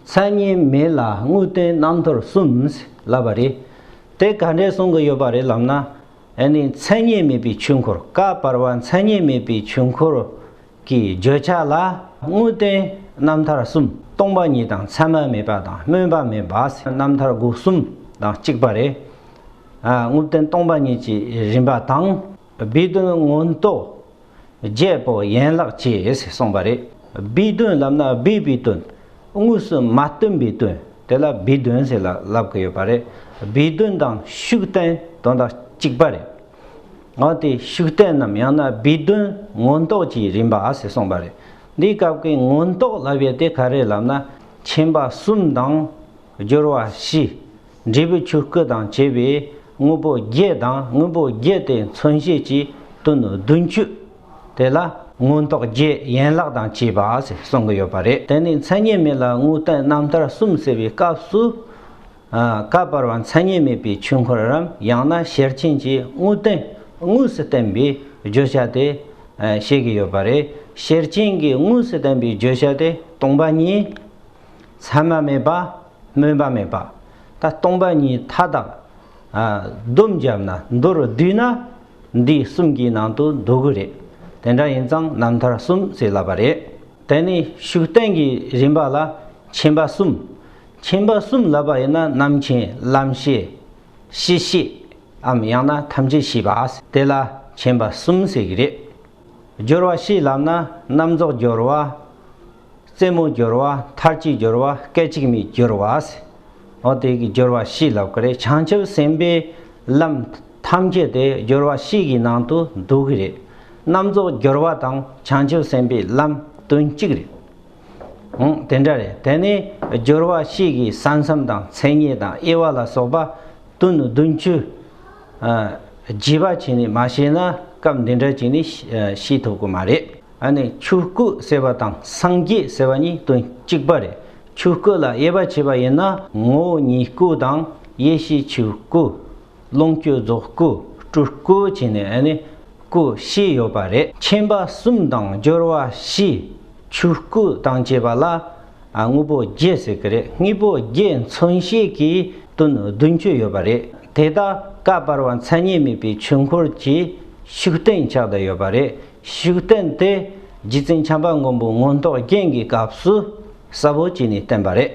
མཚན་སྙན་མེད་ལ་དངོས་བསྟན་རྣམ་ཐར་གསུམ་ལབ་པ་རེད། དེ་ག་འདྲས་གསུང་གི་ཡོད་པ་རེད་ལབ་ན། ཨེ་ནི་མཚན་སྙན་མེད་པའི་ཆོས་འཁོར་བཀའ་བར་བ་མཚན་སྙན་མེད་པའི་ཆོས་འཁོར་གྱི་བརྗོད་བྱ་ལ་དངོས་བསྟན་རྣམ་ཐར་གསུམ་སྟོང་པ་ཉིད་དང་མཚན་མ་མེད་པ་དང་སྨོན་པ་མེད་པ་རྣམ་ཐར་དགུ་གསུམ་དང་གཅིག་པ་རེད། དངོས་བསྟན་སྟོང་པ་ཉིད་ཀྱི་རིམ་པ་དང། སྦས་དོན་མངོན་རྟོགས་རྒྱལ་པོ་ཡན་ལག་ཅེས་གསུངས་པ་རེད། སྦས་དོན་ལབ་ན་སྦས་པའི་དོན། དངོས་སུ་མ་སྟོན་པའི་དོན་དེ་ལ་སྦས་དོན་ཟེར་ལ་ལབ་ཀི་ཡོད་པ་རེད། སྦས་དོན་དང་ཤུགས་བསྟན་དོན་དག་གཅིག་པ་རེད། འོན་ཏེ་ཤུགས་བསྟན་ནམ་ཡང་ན་སྦས་དོན་མངོན་རྟོགས་ཀྱི་རིམ་པ་ཟེར་གསུངས་པ་རེད། འདིའི་སྐབས་ཀྱི་མངོན་རྟོགས་ལབ་ཡུལ་དེ་ག་རེ་ལབ་ན། མཁྱེན་པ་གསུམ་དང་སྦྱོར་བ་བཞི། འབྲས་བུའི་ཆུ་སྐུད་དང་བཅས་པའི་དངོས་པོ་བརྒྱད་དང་དངོས་པོ་བརྒྱད་དེ་མཚོན་བྱེད་ཀྱི་དོན་ནོ་བདུན་བཅུ་དེ་ལ། མངོན་རྟོགས་བརྒྱད་ཡན་ལག་དང་བཅས་པ་ཞེས་གསུང་གི་ཡོད་པ་རེད་དེ་ནི་མཚན་ཉིད་མེད་ལ་དངོས་བསྟན་རྣམ་ཐར་གསུམ་ཟེར་བའི་སྐབས་སུ། བཀའ་བར་བ་མཚན་ཉིད་མེད་པའི་ཆོས་འཁོར་རམ་ཡང་ན་ཤེར་ཕྱིན་གྱི་དངོས་བསྟན་དངོས་སུ་བསྟན་པའི་བརྗོད་བྱ་དེ་བཤད་ཀྱི་ཡོད་པ་རེད་ཤེར་ཕྱིན་གྱི་དངོས་སུ་བསྟན་པའི་བརྗོད་བྱ་དེ་སྟོང་པ་ཉིད། མཚན་མ་མེད་པ། སྨོན་པ་མེད་པ། ད་སྟོང་པ་གཉིས་མཐའ་དག། སྡོམ་བརྒྱབ་ན་མདོ་རུ་བསྡུས་ན། འདི་གསུམ་གྱི་ནང་དུ་འདུ་གི་རེད། དེ་འདྲ་ཡིན་ཙང་རྣམ་ཐར་གསུམ་ཟེར་སླ་བ་རེད། དེ་ནི་ཤུགས་བསྟན་གྱི་རིམ་པ་ལ་མཁྱེན་པ་གསུམ། མཁྱེན་པ་གསུམ་ལབ་པ་ཡིན་ན་རྣམ་མཁྱེན་བླམ་ཤེས། གཤིས་ཤེས། འམ་ཡང་ན་ཐམས་ཅད་ཤེས་པ། དེ་ལ་མཁྱེན་པ་གསུམ་ཟེར་གྱི་རེད། སྦྱོར་བ་བཞིའི་ལམ་ན་རྣམ་རྫོགས་སྦྱོར་བ། རྩེ་མོ་སྦྱོར་བ་མཐར་གྱིས་སྦྱོར་བ་སྐད་ཅིག་མའི་སྦྱོར་བ། འོ་དེ་གི་སྦྱོར་བ་བཞི་ལབ་གི་རེད་བྱང་ཆུབ་སེམས་དཔའི་ལམ་ཐམས་ཅད་དེ་སྦྱོར་བ་བཞི་གི་ནང་དུ་འདུ་གི་རེད་རྣམ་རྫོགས་སྦྱོར་བ་དང་བྱང་ཆུབ་སེམས་དཔའི་ལམ་དོན་གཅིག་རེད་འོང་དེ་འདྲ་རེད་དེ་ནས་སྦྱོར་བ་བཞི་གི་ས་མཚམས་དང་མཚན་ཉིད་དང་དབྱེ་བ་ལ་སོགས་པ་དོན་བདུན་བཅུ་བརྗེད་པ་བྱས་ནས་མ་བཤད་ན་སྐབས་འདི་འདྲ་ཅིག་ནས་ཤེས་ཐུབ་ཀྱི་མ་རེད། ཨ་ནི་ཆོས་སྐུ་ཟེར་བ་དང་སངས་རྒྱས་ཟེར་བ་གཉིས་དོན་གཅིག་པ་རེད། ཆོས་སྐུ་ལ་དབྱེ་བ་ཕྱེས་པ་ཡིན་ན་ངོ་བོ་ཉིད་སྐུ་དང་ཡེ་ཤེས་ཆོས་སྐུ། ལོངས་སྤྱོད་རྫོགས་སྐུ་སྤྲུལ་སྐུ་བྱས་ནས་ཨ་ནི་སྐུ་བཞི་ཡོད་པ་རེད། མཁྱེན་པ་གསུམ་དང་སྦྱོར་བ་བཞི་ཆོས་སྐུ་དང་བཅས་པ་ལ། དངོས་པོ་བརྒྱད་ཟེར་གྱི་རེད་དངོས་པོ་བརྒྱད་མཚོན་ཤེས་ཀྱི་དོན་བདུན་ཅུ་ཡོད་པ་རེད་དེ་དག་ཀ་བར་བ་མཚན་ཉིད་མེད་པའི་ཆོས་འཁོར་གྱི་ཤུགས་བསྟན་ཆགས་བསྡད་ཡོད་པ་རེད་ཤུགས་བསྟན་དེ་རྗེ་བཙུན་བྱམས་པ་མགོན་པོ་མངོན་རྟོགས་རྒྱན་གྱི་སྐབས་སུ་གསལ་བོ་བྱས་ནས་བསྟན་པ་རེད།